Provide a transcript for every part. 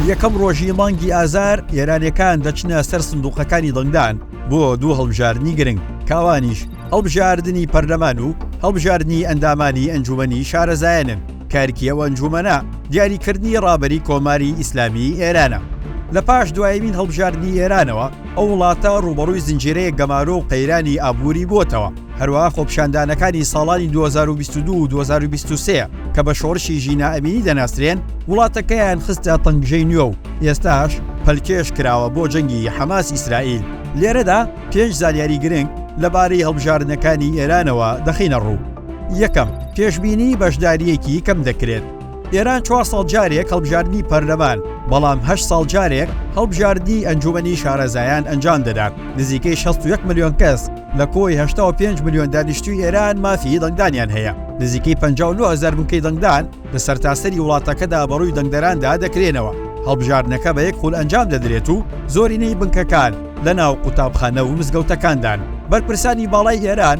یەکەم ڕۆژی مانگی ئازار ئێرانیەکان دەچنە سەر سندوقەکانی دەنگدان بۆ دوو هەڵبژاردنی گرنگ کاوانیش هەڵبژاردنی پەرلەمان و هەڵبژاردنی ئەندامانی ئەنجومەنی شارەزایانن کارکی ئەو ئەنجومەنە دیاریکردنی ڕابەری کۆماری ئیسلامی ئێرانە لە پاش دوایمین هەڵبژاردنی ئێرانەوە ئەو وڵاتە ڕووبەڕووی زنجیرەیەک گەمارۆ و قەیرانی ئابووری بۆتەوە، هەروەها خۆپیشاندانەکانی ساڵانی 2022 و 2023 کە بە شۆڕشی ژینا ئەمینی دەناسرێن وڵاتەکەیان خستە تەنگژەی نوێ و ئێستاش پەلکێش کراوە بۆ جەنگی حەماس ئیسرائیل. لێرەدا پێنج زانیاری گرنگ لەبارەی هەڵبژاردنەکانی ئێرانەوە دەخەینە ڕوو، یەکەم، پێشبینی بەشدارییەکی کەم دەکرێت، ئێران چوار ساڵ جارێک هەڵبژاردنی پەرلەمان بەڵام هە ساڵ جارێک هەڵبژاردنی ئەنجومی شارەزایان ئەنجام دەدات نزیکەی 16 میلیۆن کەس لە کۆی 5 میلیۆن دانیشتوی ئێران مافی دەنگدانیان هەیە نزیکەی 5هزار بووکەی دەنگدان لە سەرتاسەری وڵاتەکەدا بەڕووی دەنگدەراندا دەکرێنەوە هەڵبژاردنەکە بە یەک خول ئەنجام دەدرێت و زۆرینەی بنکەکان لە ناو قوتابخانە و مزگەوتەکاندان بەرپرسانی باڵای ئێران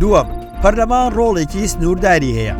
دووەم، پەرلەمان ڕۆڵێکی سنوورداری هەیە.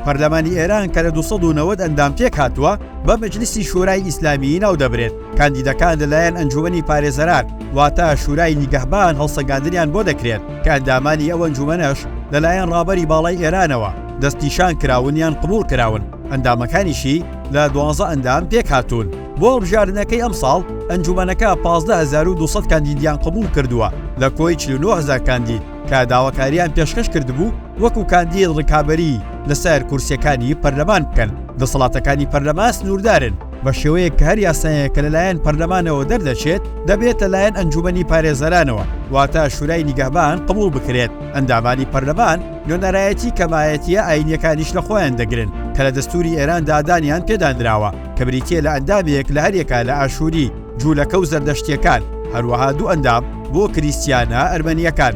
پەرلەمانی ئێران کە لە 290 ئەندام پێک هاتووە، بە مەجلیسی شورای ئیسلامیی ناودەبرێت. کاندیدەکان لەلایەن ئەنجوومەنی پارێزەران واتە شورای نیگەهبان هەڵسەنگاندنیان بۆ دەکرێت کە ئەندامانی ئەو ئەنجوومەنەش لەلایەن ڕابەری باڵای ئێرانەوە دەستنیشان کراون یان قبووڵ کراون، ئەندامەکانیشی لە دوازدە ئەندام پێکهاتوون. بۆ هەڵبژاردنەکەی ئەمساڵ، ئەنجوومەنەکە پازدە هەزار و دوو سەد کاندیدیان قبووڵ کردووە لە کۆی چل و نۆ هەزار کاندید کە داواکارییان پێشکەش کردبوو وەکو کاندید ڕکابەری لەسەر کورسییەکانی پەرلەمان بکەن. دەسەڵاتەکانی پەرلەمان سنووردارن بە شێوەیەک کە هەر یاسایەک کە لەلایەن پەرلەمانەوە دەردەچێت دەبێت لەلایەن ئەنجوومەنی پارێزەرانەوە واتە شورای نیگەهبان قبووڵ بکرێت. ئەندامانی پەرلەمان. نوێنەرایەتی کەمایەتییە ئایینییەکانیش لە خۆیان دەگرن کە لە دەستووری ئێراندا دانیان پێدا نراوە کە بریتییە لە ئەندامێک لە هەریەکە لە ئاشووری، جوولەکە و زەردەشتییەکان، هەروەها دوو ئەندام بۆ کریستیانە ئەرمەنییەکان.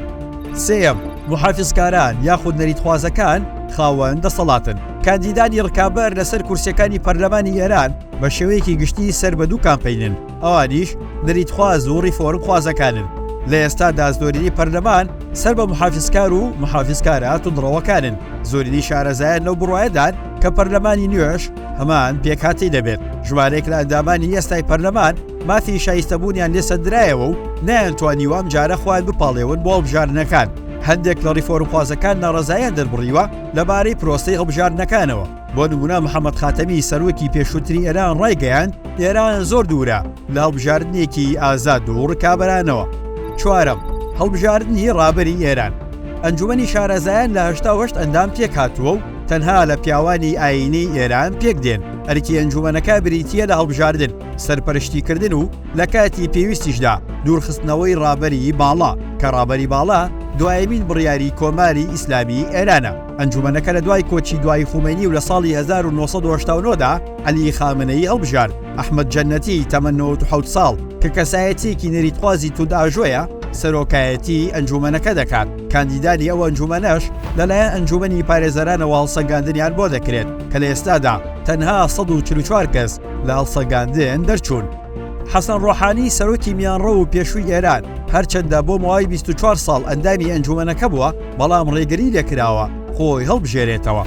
سێیەم، موحافیزکاران یاخود نەریتخوازەکان خاوەن دەسەڵاتن. کاندیدانی ڕکابەر لەسەر کورسییەکانی پەرلەمانی ئێران بە شێوەیەکی گشتی سەر بە دوو کامپەینن، ئەوانیش نەریتخواز و ڕیفۆرم خوازەکانن، لە ئێستادا زۆرینەی پەرلەمان سەر بە محافزکار و محافزکارە توندڕەوەکانن، زۆرینەی شارەزایان لەو بڕوایەدان کە پەرلەمانی نوێش هەمان پێکهاتەی دەبێت، ژمارەیەک لە ئەندامانی ئێستای پەرلەمان مافی شایستەبوونیان لێ سەندرایەوە و نەیانتوانیوە ئەمجارە خۆیان بپاڵێون بۆ هەڵبژاردنەکان، هەندێک لە ڕیفۆرمخوازەکان ناڕەزاییان دەربڕیوە لەبارەی پرۆسەی هەڵبژاردنەکانەوە. بۆ نموونە محەممەد خاتەمی سەرۆکی پێشووتری ئێران ڕایگەیاند ئێران زۆر دوورە لە هەڵبژاردنێکی ئازاد و ڕکابەرانەوە چوارەم هەڵبژاردنی ڕابری ئێران ئەنجومی شارەزایان لە هشتاهشت ئەندام پێک هاتووە و تەنها لە پیاوانی ئاینی ئێران پێک دێن ئەرکی ئەنجومەنەکە بریتە لە هەڵبژاردن سەرپەرشتیکردن و لە کاتی پێویستیشدا دوورخستنەوەی ڕابەری باڵا کە ڕابەری باڵا دوایمین بڕیاری کۆماری ئیسلامی ئێرانە. ئەنجومەنەکە لە دوای کۆچی دوایی خومەینی و لە ساڵی 1989 دا عەلی خامنەیی هەڵبژارد. ئەحمەد جەنەتی تەمەن 97 ساڵ کە کەسایەتییەکی نەریتخوازی توندئاژۆیە، سەرۆکایەتیی ئەنجومەنەکە دەکات، کاندیدانی ئەو ئەنجومەنەش لەلایەن ئەنجومەنی پارێزەرانەوە هەڵسەنگاندنیان بۆ دەکرێت کە لە ئێستادا تەنها 144 کەس لە هەڵسەنگاندن دەرچوون. حەسەن ڕۆحانی سەرۆکی میانڕەو و پێشووی ئێران، هەرچەندە بۆ ماوەی 24 ساڵ ئەندامی ئەنجومەنەکە بووە، بەڵام ڕێگری لێکراوە خۆی هەڵبژێرێتەوە.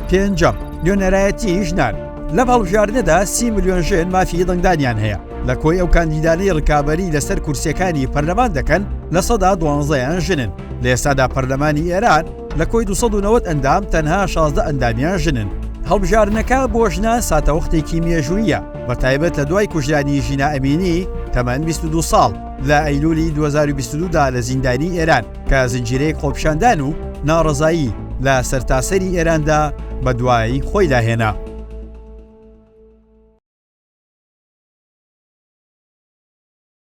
پێنجەم، نوێنەرایەتیی ژنان، لەم هەڵبژاردنەدا سی ملیۆن ژن مافی دەنگدانیان هەیە، لە کۆی ئەو کاندیدانەی ڕکابەری لەسەر کورسییەکانی پەرلەمان دەکەن لە سەدا دوانزەیان ژنن، لە ئێستادا پەرلەمانی ئێران لە کۆی دوو سەد و نەوەد ئەندام تەنها شازدە ئەندامیان ژنن. هەڵبژاردنەکە بۆ ژنان ساتەوەختێکی مێژووییە، بەتایبەت لە دوای کوژرانی ژینا ئەمینی تەمەن بیست و دوو ساڵ لە ئەیلوولی دوو هەزار و بیست و دوو دا لە زیندانی ئێران. کە زنجیرەیەک خۆپیشاندان و ناڕەزایی لە سەرتاسەری ئێراندا بەدوای خۆیدا هێنا.